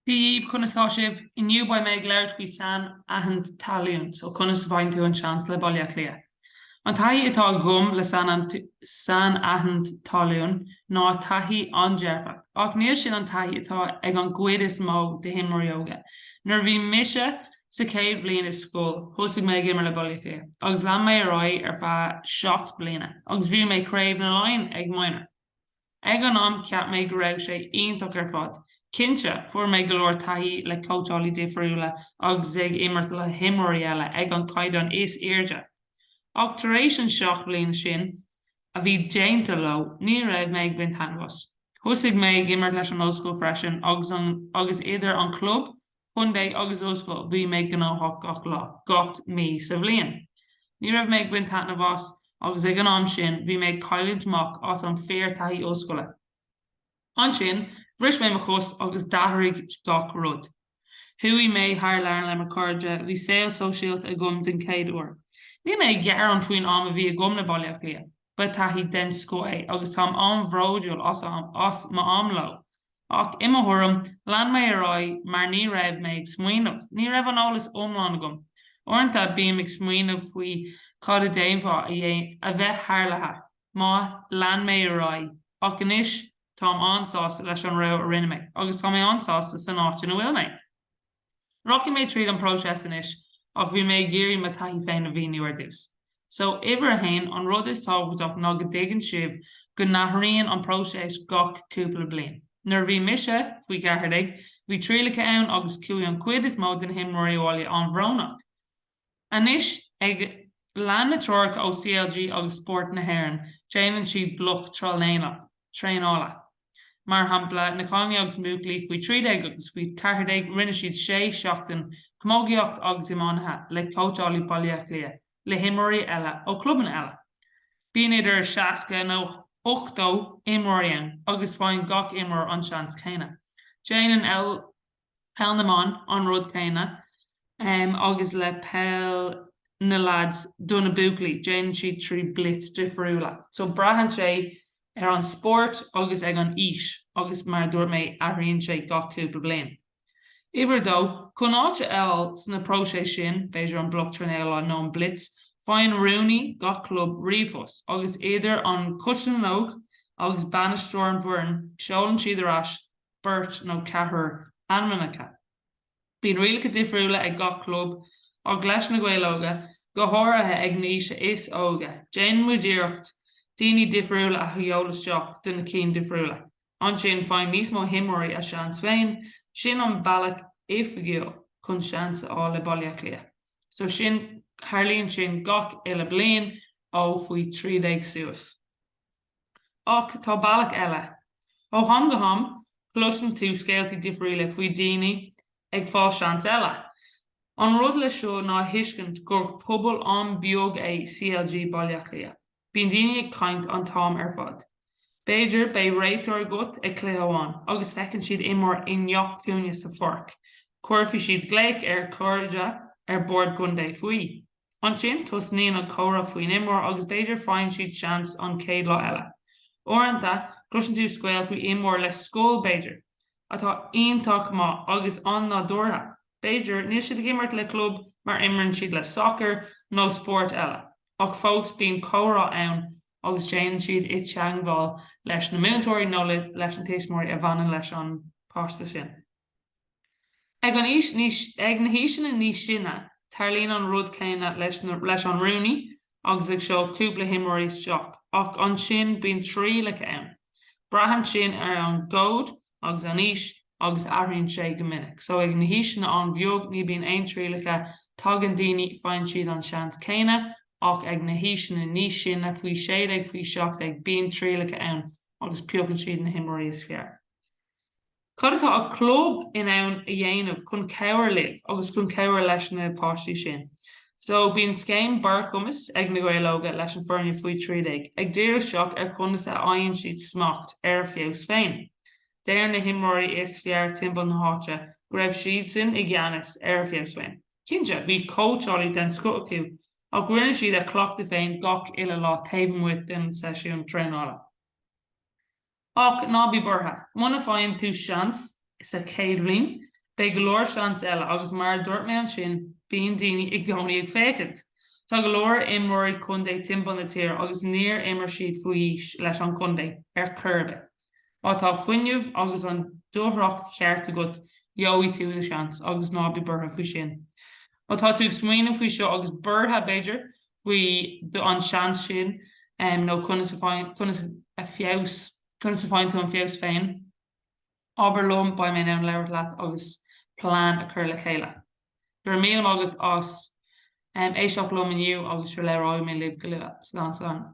Dia dhaoibh, conas tá sibh? Inniu beidh mé ag labhairt faoi sainaithint tallainne, so conas a bhfaigheann tú an seans le Baile Átha Cliath? An taithí atá agam le sainaithint tallainne ná taithí an-dearfach, ach níl sin an taithí atá ag an gcuid is mó de himreoirí óga. Nuair a bhí mise sa chéad bhliain i scoil, thosaigh mé ag imir le Baile Átha Cliath agus lean mé ar aghaidh ar feadh seacht bliana agus bhuaigh mé Craobh na Laighean ag Minor. Ag an am, cheap mé go raibh sé iontach ar fad. Cinnte, fuair mé go leor taithí le cóitseálaí difriúla agus ag imirt le himreoirí eile ag an caighdeán is airde. Ach tar éis an seacht bliain sin a bhí déanta leo, ní raibh mé ag baint taitneamh as. Thosaigh mé ag imirt leis an ollscoil freisin agus agus idir an chlub, chontae agus ollscoil, bhí mé gnóthach gach lá, gach mí sa bhliain. Ní raibh mé ag baint taitneamh as, agus ag an am sin, bhí mé ag cailliúint amach as an fíor taithí ollscoile. Ansin, bhris mé mo chos agus d'athraigh gach rud. Chuaigh mé thar lear le mo chairde, bhí saol sóisialta agam den chéad uair. Níl mé ag gearán faoin am a bhí agam le Baile Átha Cliath, ba thaithí den scoth é agus táim an-bhródúil as m'am leo. Ach, i mo thuairim, lean mé ar aghaidh mar ní raibh mé ag smaoineamh, ní raibh an eolas iomlán agam. Uaireanta, bím ag smaoineamh faoi cad a d'fhéadfá a bheith tharlaithe má lean mé ar aghaidh ach anois táim an-sásta leis an rogha a rinne mé agus tá mé an-sásta san áit ina bhfuil mé. Rachaidh mé tríd an bpróiseas anois ach bhí mé ag iarraidh mo taithí féin a mhíniú ar dtús. So, uimhir a haon, an rud is tábhachtach ná go dtuigeann sibh go n-athraíonn an próiseas gach cúpla bliain. Nuair a bhí mise, faoi cheathair déag, bhí trialacha ann agus chuaigh an chuid is mó de na himreoirí abhaile an-bhrónach. Anois, ag lean na treoracha ó CLG agus Spórt na hÉireann, déanann siad bloc traenála. Mar shampla, na cailíní agus na buachaillí faoi 13 agus faoi 14, rinne siad sé seachtain camógaíocht agus iománaíocht le cóitseálaí Baile Átha Cliath le himreoirí eile ó chlubanna eile. Bíonn idir 60 nó 80 imreoirí ann agus faigheann gach imreoir an seans céanna. Déanann eil Peil na mBan, an rud céanna agus le peil na leaids do na buachaillí, déanann siad trí blitz difriúla. So braitheann sé ar an spórt agus ag an aois agus mar a dúirt mé, athraíonn sé gach cúpla bliain. Uimhir a dó, chun áit a fháil sna próisis sin, b'fhéidir an bloc traenála nó an blitz, faigheann rúnaí gach club ríomhphost agus idir an coiste na n-óg agus bainisteoir an bhfoireann, seolann siad ar ais beirt nó ceathrar ainmneacha. Bíonn rialacha difriúla ag gach club, ach leis na Gaeil Óga, go háirithe ag an aois is óige, déanann muid iarracht daoine difriúla a sheoladh isteach do na cinn difriúla. Ansin, faigheann níos mó himreoirí a seans féin, sin an bealach oifigiúil chun seans a fháil le Baile Átha Cliath. So sin, tarlaíonn sin gach uile bliain, ó faoi thrí déag suas. Ach tá bealach eile. Ó ham go ham, cloiseann tú scéaltaí difriúla faoi daoine ag fáil seans eile. An rud le seo ná a thuiscint gur pobal an-beag é CLG Baile Átha Cliath. Bíonn daoine ag caint an t-am ar fad. B'fhéidir beidh réiteoir agat ag cluiche amháin agus feiceann siad imreoir i ngach cúinne sa pháirc, cuirfidh siad glaoch ar chairde ar bord contae faoi. Ansin, tosnaíonn an comhrá faoin imreoir agus b'fhéidir faigheann siad seans an chéad lá eile. Uaireanta, cloiseann tú scéal faoi imreoir le scoil, b'fhéidir, atá iontach maith agus an-nádúrtha. B'fhéidir, níl siad ag imirt le club mar imríonn siad le sacar nó spórt eile, ach fós bíonn comhrá ann, agus téann siad i teangmháil leis na múinteoirí nó leis na tuismitheoirí a bhaineann leis an bpáiste sin. Ag an aois níos, ag na haoiseanna níos sine, tarlaíonn an rud céanna leis na, leis an rúnaí agus ag seoladh cúpla himreoirí isteach, ach ansin bíonn trialacha ann. Braitheann sin ar an gcód agus an aois agus athraíonn sé go minic. So ag na haoiseanna an-bheag ní bíonn aon trialacha, tagann daoine, faigheann siad an seans céanna, ach ag na haoiseanna níos sine, faoi sé déag, faoi seacht déag, bíonn trialacha ann agus piocann siad na himreoirí is fearr. Cad atá an chlub in ann a dhéanamh chun cabhair libh agus chun cabhair leis na páistí sin? So bíonn scéim barrchumais ag Na Gaeil Óga leis an foirne faoi trí déag ag díriú isteach ar conas a fhaigheann siad smacht ar a feabhas féin. Deir na himreoirí is fearr timpeall na háite go raibh siadsan i gceannas ar a feabhas féin. Cinnte, bhí cóitseálaí den scoth acu ach rinne siad a cleachtadh féin gach uile lá taobh amuigh den seisiún traenála. Ach ná bí buartha, muna bhfaigheann tú seans sa chéad bhliain, beidh go leor seans eile agus mar a dúirt mé ansin, bíonn daoine i gcónaí ag féachaint. Tá go leor imreoirí contae timpeall na tíre agus níor imir siad faoi aois leis an contae ar chor ar bith. Má tá fuinneamh agus an dúthracht cheart agat, gheobhaidh tú do sheans agus ná bí buartha faoi sin. Má tá tú ag smaoineamh faoi seo agus buartha, b'fhéidir, faoi an seans sin nó conas a bhfaigheann tú an feabhas féin? Abair liom, beidh mé in ann labhairt leat agus plean a chur le chéile. Go raibh míle maith agat as éisteacht liom inniu agus sure labhróidh mé libh go luath. Slán, slán.